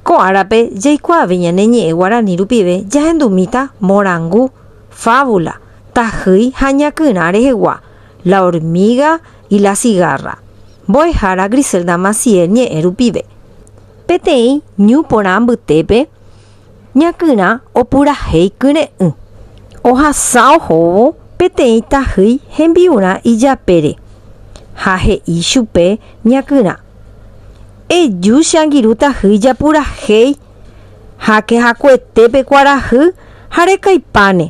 Ko árape jaikuaave ñane ñe'ẽ guarani rupive jahendumíta morangu, fábula, tahýi ha ñakyrã rehegua, La hormiga y la cigarra, mbo'ehára Griselda Maciel ñe'ẽ rupive. Peteĩ ñu porã mbytépe ñakyrã opurahéi kyre'ỹ. Ohasa ohóvo peteĩ tahýi hembi'urã ijapére ha he'i chupe ñakyrã. Eju che angirũ tahýi japurahéi háke hakuete pe kuarahy ha rekaipáne,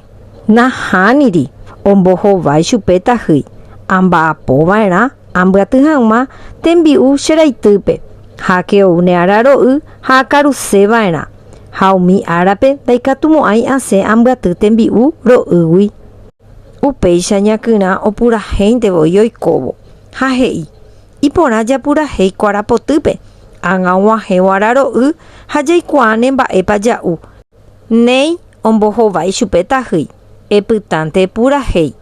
nahániri ombohovái chupe tahýi, amba'apo va'erã ambyaty hag̃ua tembi'u che raitýpe, háke ou ne ára ro'y ha akaruse va'erã, ha umi árape ndaikatumo'ãi asẽ ambyaty tembi'u ro'ýgui. Upéicha ñakyrã opurahéinte voi oikóvo, ha he'i, Iporã japurahéi kuara potýpe, ágã og̃uahẽvo araro'y ha jaikuaáne mba'épa ja'u. Néi ombohovái chupe tahýi, epytánte epurahéi,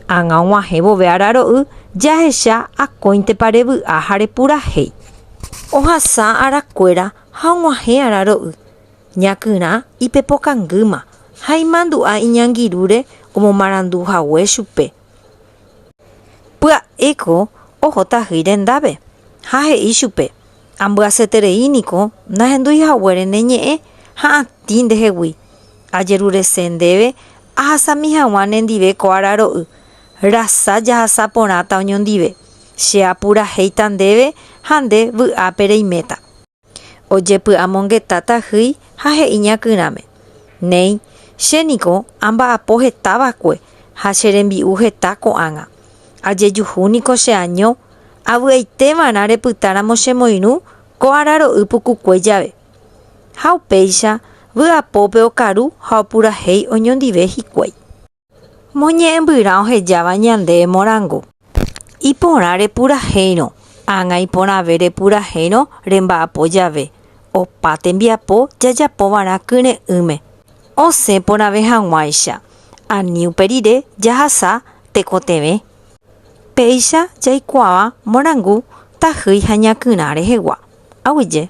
ágã og̃uahẽ vove araro'y jahecha akóintepa revy'a ha repurahéi. Ohasa arakuéra ha og̃uahẽ araro'y, ñakyrã ipepokangýma ha imandu'a iñangirũre omomarandu hague chupe. Pya'éko oho tahy rendápe ha he'i chupe, Ambyasyeterei niko nahendúi haguére ne ñe'ẽ ha atĩ ndehegui. Ajerurese ndéve ahasami haguã ne ndive ko araro'y, rasa jahasa porãta oñondive. Che apurahéita ndéve ha nde vy'ápe reiméta. Ojepy'amongeta tahýi ha he'i ñakyrãme, Néi, che niko amba'apo heta va'ekue ha che rembi'u heta ko'ág̃a. Ajejuhu niko che año, avy'aite va'erã repytáramo che moirũ ko araro'y pukukue jave. Ha upéicha vy'apópe okaru ha opurahéi oñondive hikuái. Moñe'ẽmbyrã ohejáva ñande emorangu. Iporã repurahéirõ, ágã iporãve repurahéirõ remba'apo jave, opa tembiapo jajapovarã kyre'ỹme, osẽ porãve hag̃uáicha, ani upe rire jahasa tekotevẽ. Péicha jaikuaava morangu tahýi ha ñakyrã rehegua. Aguyje.